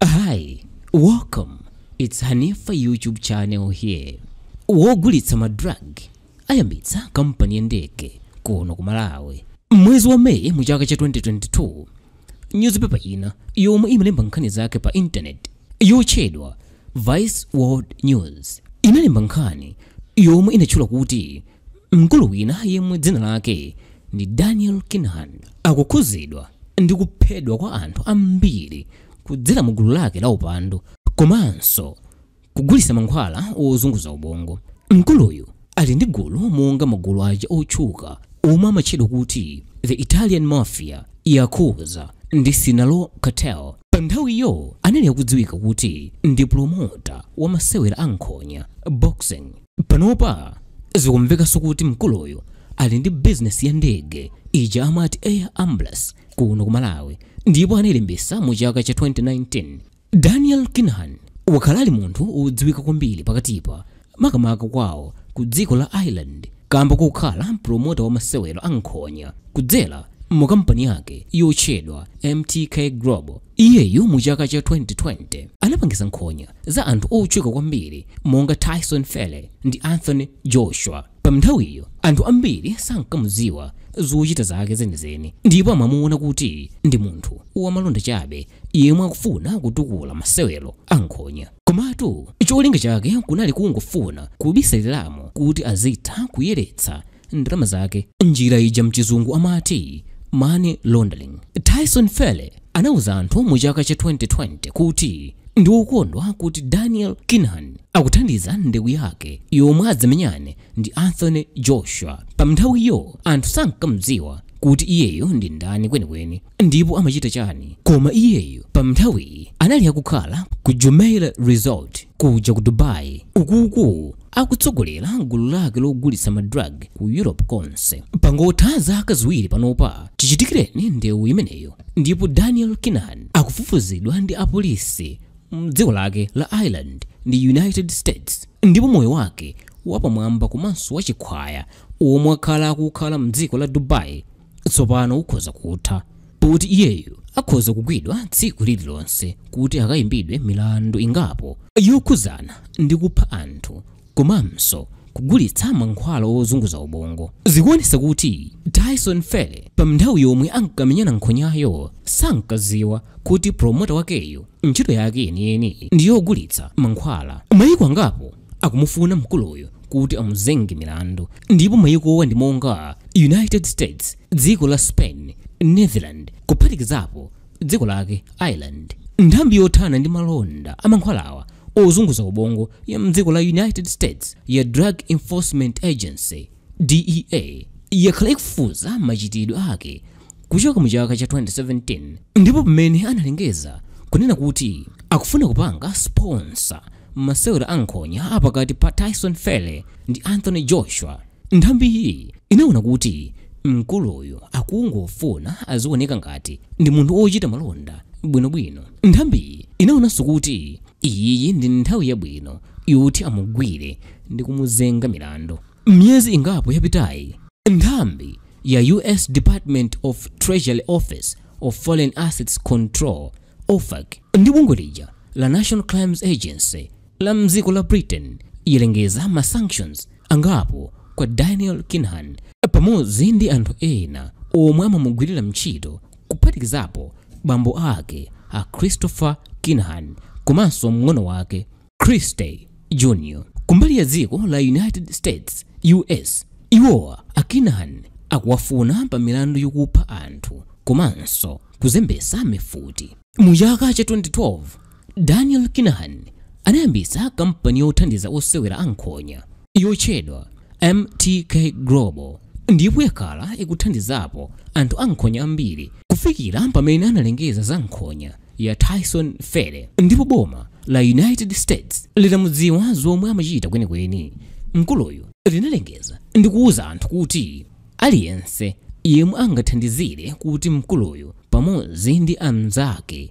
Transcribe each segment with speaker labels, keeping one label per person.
Speaker 1: Hi, welcome. It's Hanifa YouTube channel here. Wogulitsa ma drug ayambitsa kampani ya ndege kuno ku Malawi. Mwezi wa Mei mu chaka cha 2022, newspaper ina yomwe imalemba nkhani zake pa internet yotchedwa Vice World News inalemba nkhani yomwe inatchula kuti Mkulu wina yemwe dzina lake ndi Daniel Kinahan akukhuzidwa ndi kuphedwa kwa anthu ambiri kudzera mu gulu lake la upandu komanso kugulitsa mankhwala ozunguza ubongo. Mkuluyu ali ndi gulu monga magulu aja otchuka omwe amatchedwa kuti The Italian Mafia, Yakuza ndi Sinaloa Cartel. Panthawiyo anali akudziwika kuti ndi promota wa masewera a nkhonya, boxing. Panopa zikumvekanso kuti mkuluyu ali ndi bizinesi ya ndege ija amati Air Ambulance kuno ku Malawi ndipo anailembetsa mu chaka cha 2019. Daniel Kinahan wakhala ali munthu wodziwika kwambiri pakatipa makamaka kwawo ku dziko la Ireland kamba kokhala promota wa masewero a nkhonya kudzera mu kampani yake yotchedwa MTK Global. Iyeyu mu chaka cha 2020 anapangisa nkhonya za anthu otchuka kwambiri monga Tyson Fury ndi Anthony Joshua. Pa nthawiyo anthu ambiri sankamudziwa zochita zake zenizeni ndipo amamuona kuti ndi munthu wamalonda chabe yemwe akufuna kutukula masewero a nkhonya. Komatu cholinga chake kunali kungofuna kubisaliramo kuti azitha kuyeretsa ndalama zake. Njira ija mchizungu amati money laundering. Tyson Fury anauza anthu mu chaka cha 2020 kuti ndi wokondwa kuti Daniel Kinahan akuthandiza ndewu yake yomwe adzamenyane ndi Anthony Joshua. Pamnthawiyo anthu sankamudziwa kuti iyeyo ndi ndani kwenikweni. Ndipo amachita chani koma iyeyo pa mnthawiyi anali akukhala ku Jumeirah Resort kuja ku Dubai uku akutsogolera gulu lake logulitsa ma drug ku Europe konse. Pangotha zaka ziwiri panopa chichitikireni ndewu imeneyo ndipo Daniel Kinahan akufufuzidwa ndi apolisi mdziko lake la Ireland ndi United States ndipo moyo wake wapamwamba komanso wachikhwaya womwe wakhala akuwukhala mdziko la Dubai tsopano ukhoza kutha poti iyeyu akhoza kugwidwa tsiku lililonse kuti akayimbidwe milandu ingapo yokhudzana ndi kupha anthu komanso kugulitsa mankhwala ozunguza ubongo zikuonesa kuti tyson fury pa mnthawi yomwe ankamenyana nkhonyayo sankadziwa kuti promota wakeyo ntchito yake yeniyeni ndi yogulitsa mankhwala mayiko angapo akumufuna mkuluyu kuti amuzenge milandu ndipo mayikowa ndi monga united states dziko la spain netherlands kuphatikizapo dziko lake ireland nthambi yothana ndi malonda amankhwalawa ozunguza ubongo ya mdziko la united states ya drug enforcement agency dea yakhala ikufufuza machitidwe ake kuchokera mu chaka cha 2017 ndipo pamene analengeza kunena kuti akufuna kupanga sponsor Masewera a nkhonya apakati pa Tyson Fury ndi Anthony Joshua, nthambiyi inaona kuti mkuluyu akungofuna azioneka ngati ndi munthu wochita malonda bwinobwino. Nthambiyi inaonanso kuti iyiyi ndi nthawi yabwino yoti amugwire ndi kumuzenga milandu. Miyezi ingapo yapitayi, nthambi ya U.S. Department of Treasury Office of Foreign Assets Control OFAC ndi bungwe la National Crimes Agency la mdziko la Britain yalengeza ma sanctions angapo kwa Daniel Kinahan pamodzi ndi anthu ena omwe amamugwirira ntchito kuphatikizapo bambo ake a Christopher Kinahan komanso mng'ono wake Christy Jr. kumbali ya dziko la United States US iwowa a Kinahan akuwafuna pa milandu yokupha anthu komanso kuzembesa mifuti mu chaka cha 2012 Daniel Kinahan anayambitsa kampani yothandiza osewera ankhonya yotchedwa MTK Global ndipo yakhala ikuthandizapo anthu ankhonya ambiri kufikira pamene analengeza za nkhonya ya Tyson Fury ndipo boma la United States litamudziwa zomwe amachita kwenikweni. Mkuluyu linalengeza ndi kuwuza anthu kuti aliyense yemwe angathandizire kuti mkuluyu pamodzi ndi anzake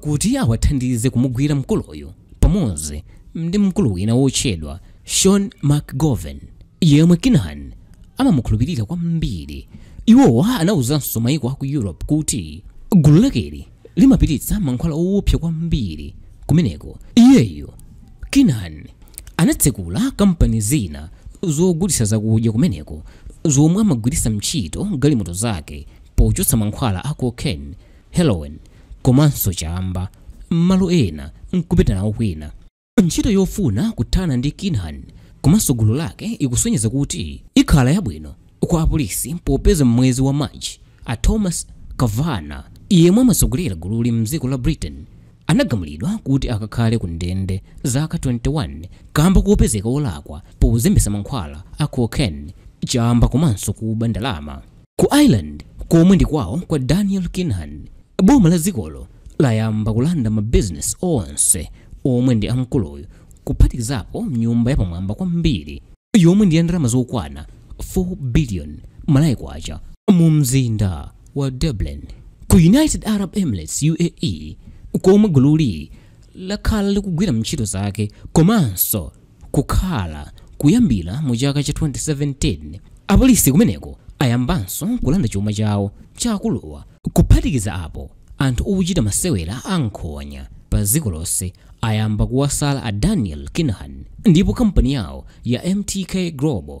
Speaker 1: kuti awathandize kumugwira mkuluyu pamodzi ndi mkulu wina wotchedwa Sean McGovern yemwe Kinahan amamukhulupirira kwambiri. Iwowa anauzanso maiko a ku Europe kuti gulu lakeli limapititsa mankhwala owopsa kwambiri kumeneko. Iyeyu Kinahan anatsekula kampani zina zogulitsa zakudya kumeneko zomwe amagwiritsa ntchito galimoto zake pochotsa mankhwala a cocaine heroin komanso chamba m'malo ena nkupita nawo kwina ntchito yofuna kuthana ndi kinahan komanso gulu lake ikusonyeza kuti ikhala yabwino kwa apolisi popeza m'mwezi wa march a thomas kavanagh yemwe amatsogolera gululi mdziko la britain anagamulidwa kuti akakhale ku ndende zaka 21 kamba kopezeka wolakwa pozembetsa mankhwala a cocaine chamba komanso kuba ndalama Ku Ireland, komwe ndi kwawo kwa Daniel Kinahan, boma la dzikolo layamba kulanda mabizinesi onse omwe ndi a mkuluyu kuphatikizapo nyumba yapamwamba kwambiri yomwe ndi ya ndalama zokwana 4 biliyoni Malawi kwacha mu mzinda wa Dublin ku United Arab Emirates UAE komwe gululi lakhala likugwira ntchito zake komanso kukhala kuyambira mu chaka cha 2017. Apolisi kumeneko ayambanso kulanda chuma chawo cha akuluwa. Kuphatikiza apo, anthu ochita masewera a nkhonya pa dziko lonse ayamba kuwasala a Daniel Kinahan ndipo kampani yawo ya MTK Global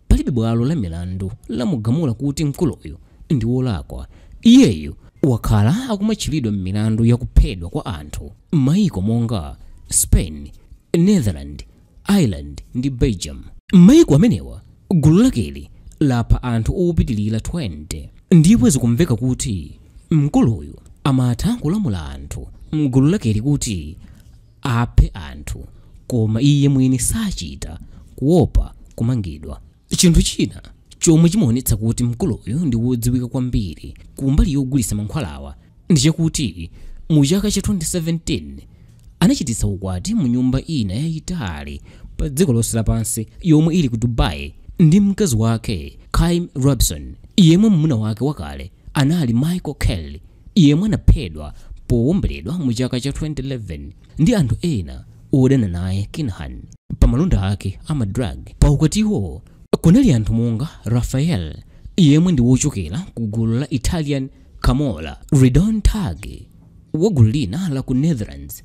Speaker 1: Palibe bwalo la milandu lamugamula kuti mkuluyu ndi wolakwa. Iyeyu wakhala akumatchulidwa m'milandu ya kuphedwa kwa anthu m'mayiko monga Spain, Netherlands, Ireland ndi Belgium. M'mayiko amenewa, gulu lakeli lapha anthu opitirira 20 ndipo zikumveka kuti mkuluyu amatha kulamula anthu m'gulu lakeli kuti aphe anthu koma iye mwini sachita, kuopa kumangidwa. Chinthu china chomwe chimaonetsa kuti mkuluyu ndi wodziwika kwambiri kumbali yogulitsa mankhwalawa ndi chakuti mu chaka cha 2017 anachititsa ukwati mu nyumba ina yayitali pa dziko lonse lapansi yomwe ili ku Dubai ndi mkazi wake Caoimhe Robinson yemwe mamuna wake wakale anali Michael Kelly. yemwe anaphedwa powomberedwa mu chaka cha 2011 ndi anthu ena odana naye Kinahan pa malonda ake a madrug. Pa ukwatiwo kunali anthu monga Raffaele yemwe ndi wochokera ku gulu la Italian Camorra, Ridouan Taghi wa gulu lina la ku Netherlands,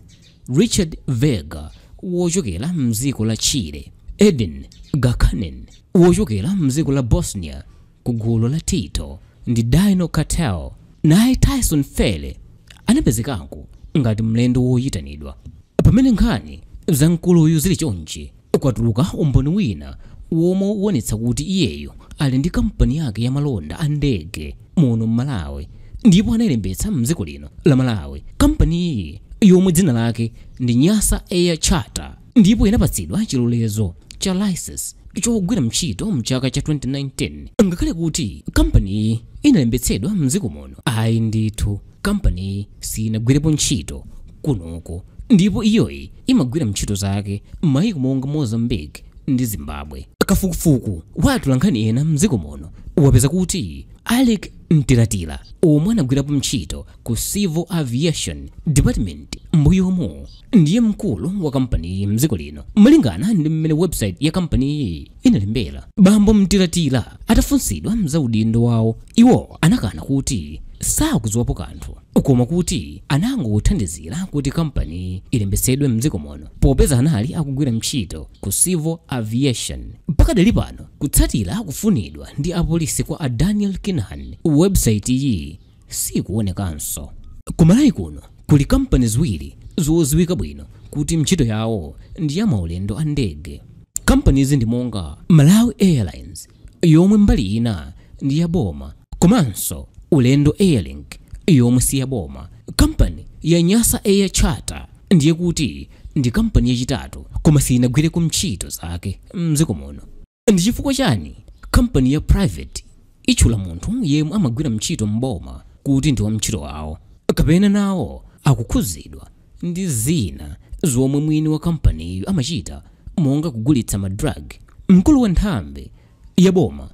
Speaker 1: Richard Vega wochokera mdziko la Chile, Edin Gacanin wochokera mdziko la Bosnia ku gulu la Tito ndi Dino Cartel. Naye Tyson Fury anapezekako ngati mlendo woyitanidwa. Pamene nkhani za mkuluyu zili chonchi, kwatulukira umboni wina womwe ukuonetsa kuti iyeyu ali ndi kampani yake ya malonda a ndege muno m'Malawi ndipo anayilembetsa m'dziko lino la Malawi. Kampaniyi yomwe dzina lake ndi Nyasa Air Charter, ndipo inapatsidwa chilolezo cha license chogwira ntchito mchaka cha 2019 ngakhale kuti kampaniyi inalembetsedwa mdziko muno ayi ndithu kampaniyi sinagwirepo ntchito kunoko ndipo iyoyi imagwira ntchito zake m'mayiko monga mozambique ndi zimbabwe kafukufuku wa atolankhani ena mdziko muno wapeza kuti alec mtilatila omwe anagwirapo ntchito ku civil aviation department mbuyomo ndiye mkulu wa kampaniyi mdziko lino malingana ndi mmene webusaiti ya kampaniyi inalembera bambo Mtilatila atafunsidwa za udindo wawo iwo anakana kuti sakudziwapo kanthu koma kuti anangothandizira kuti kampani ilembetsedwe mdziko muno popeza anali akugwira ntchito ku civil aviation pakadali pano kutsatira kufunidwa ndi apolisi kwa a daniel kinahan webusaiti iyi siikuwonekanso. Ku Malawi kuno kuli kampani ziwiri zoziwika bwino kuti mchito yawo ndi ya maulendo a ndege. Kampanizi ndi monga Malawi Airlines yomwe mbali ina ndi ya boma komanso Ulendo Airlink yomwe si ya boma. Kampani ya Nyasa Air Charter ndiye kuti ndi kampani yachitatu koma siyinagwireko mchito zake mdziko muno. ndi chifukwa chani kampani ya private itchula munthu yemwe amagwira mntchito m'boma kuti ndi wamntchito wawo kapena nawo akukhudzidwa ndi zina zomwe mwini wa kampaniyo amachita monga kugulitsa ma drug mkulu wa nthambi ya boma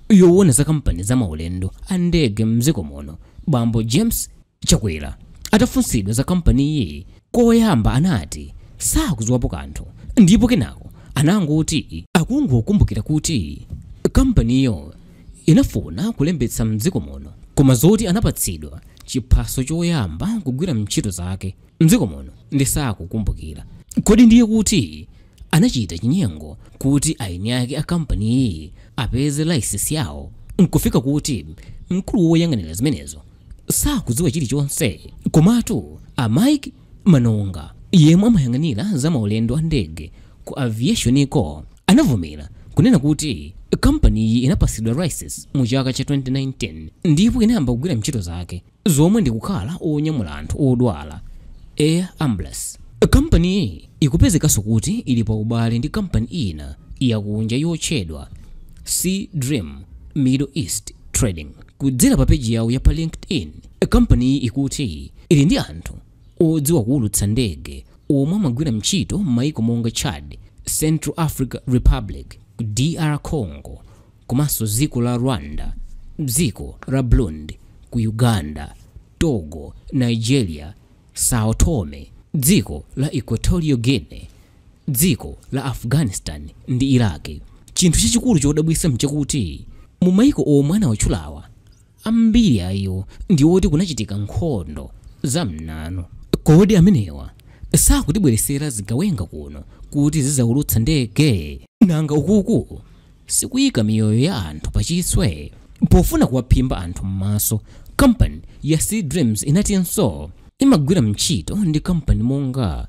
Speaker 1: yowona za kampani za maulendo a ndege mdziko muno bambo james Chakwera atafunsidwa za kampaniyi koyamba anati sakudziwapo kanthu ndipo kenako anangoti akungokumbukira kuti kampaniyo inafuna kulembetsa m'dziko muno koma zoti anapatsidwa chiphaso choyamba kugwira ntchito zake m'dziko muno ndiye sakukumbukira. Kodi ndiye kuti anachita chinyengo kuti eni ake a kampaniyi apeze layisensi yawo n'kufika kuti mkulu woyang'anira zimenezo sakudziwa chilichonse komatu a mike manonga yemwe amayang'anira za maulendo a ndege ku aviationiko anavomera kunena kuti kampaniyi inapasidwa license mu chaka cha 2019 ndipo inayamba kugwira ntchito zake zomwe ndi kukhala onyamula anthu odwala air ambulance kampaniyi ikupezekanso kuti ili pa ubale ndi kampani ina yakunja yotchedwa sea dream middle east trading Kudzera pa peji yawo ya pa LinkedIn, kampaniyi ikuti ili ndi anthu odziwa kuulutsa ndege omwe amagwira ntchito m'mayiko monga Chad, Central Africa Republic, DR Congo, komanso dziko la Rwanda, dziko la Burundi, ku Uganda, Togo, Nigeria, Sao Tome, dziko la Equatorial Guinea, Dziko la Afghanistan ndi Iraq. Chinthu chachikulu chodabwitsa mchakuti mu maiko omwe anawatchulawa, ambiri a iwo ndi oti kunachitika nkhondo za m'nanu. Kodi amenewa sakutibweretsera zigawenga kuno kuti zidzaulutsa ndege? Nanga ukuku? sikuika miyoyo ya anthu pachiswe. Pofuna kuwaphimba anthu m'maso, kampani ya Sea Dreams inatinso imagwira ntchito ndi kampani monga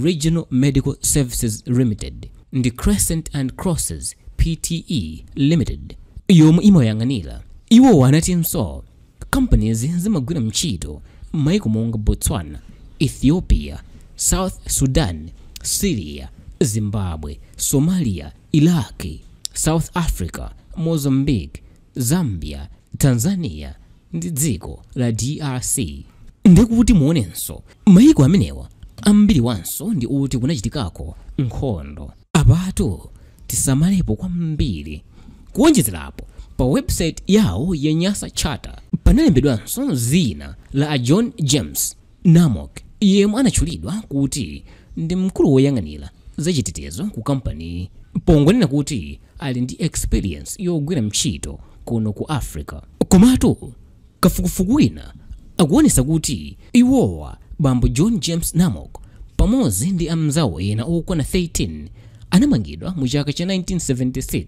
Speaker 1: Regional Medical Services Limited ndi Crescent and Crosses PTE Limited yomwe imayang'anira. Iwowa anatinso Kampanizi zimagwira ntchito m'mayiko monga Botswana, Ethiopia, South Sudan, Syria, Zimbabwe, Somalia, Iraq, South Africa, Mozambique, Zambia, Tanzania ndi dziko la DRC. Ndi kuti muonenso mayiko amenewa ambiriwanso ndi oti kunachitikako nkhondo. Apatu tisamalepo kwambiri. Kuwonjezera apo, pa website yawo ya Nyasa Charter panalembedwanso dzina la a John James Namok, yemwe anatchulidwa kuti ndi mkulu woyang'anira zachitetezo ku kampaniyi pongonena kuti ali ndi experience yogwira ntchito kuno ku Africa. Komatu Kafukufuku wina akuonesa kuti iwowa bambo John James Namok pamodzi ndi amnzawo ena okwana 13 anamangidwa mu chaka cha 1976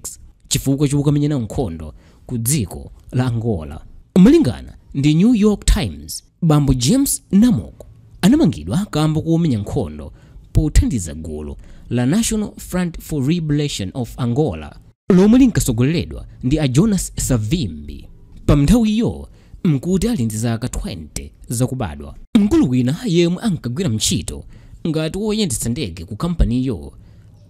Speaker 1: chifukwa chokamenya nawo nkhondo ku dziko la Angola. Malingana ndi New York Times, bambo James Namok anamangidwa kamba komenya nkhondo pothandiza gulu la National Front for Liberation of Angola, lomwe linkatsogoleredwa ndi a Jonas Savimbi. Panthawiyo n'kuti ali ndi zaka 20 zakubadwa. Mkulu wina yemwe ankagwira ntchito ngati woyendetsa ndege ku kampaniyo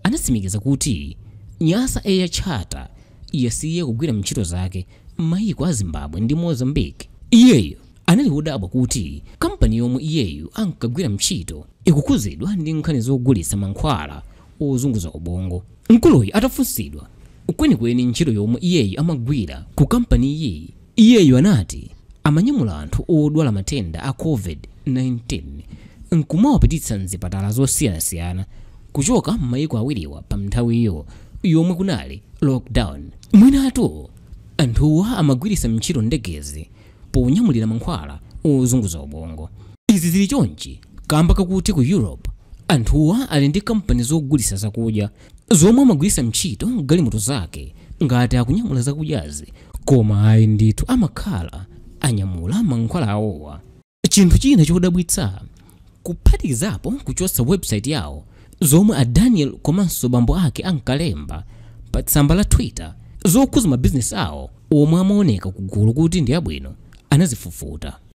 Speaker 1: anatsimikiza kuti Nyasa Air Charter yasiya kugwira ntchito zake m'mayiko a Zimbabwe ndi Mozambique. Iyeyo anali wodabwa kuti kampani yomwe iyeyu ankagwira ntchito ikukhudzidwa ndi nkhani zogulitsa mankhwala ozunguza ubongo. Mkuluyu atafunsidwa kwenikweni ntchito yomwe iyeyu amagwira ku kampaniyi, iyeyu anati amanyamula anthu odwala matenda a Covid-19 n'kumawapititsa m'zipatala zosiyanasiyana kuchoka m'mayiko awiriwa panthawiyo yomwe kunali lockdown. Mwinatu anthuwa amagwiritsa ntchito ndegezi ponyamulira mankhwala ozunguza ubongo. Izi zili chonchi kamba kakuti ku Europe anthuwa ali ndi kampani zogulisa zakudya zomwe amagwirisa ntchito galimoto zake ngati akunyamula zakudyazi koma ayi ndithu amakhala anyamula mankhwala awowa. Chinthu china chodabwitsa kuphatikizapo kuchotsa website yawo zomwe a Daniel komanso bambo ake ankalemba pa tsamba la Twitter zokhuza mabizinesi awo omwe amaoneka kugulu kuti ndi abwino anazifufuta.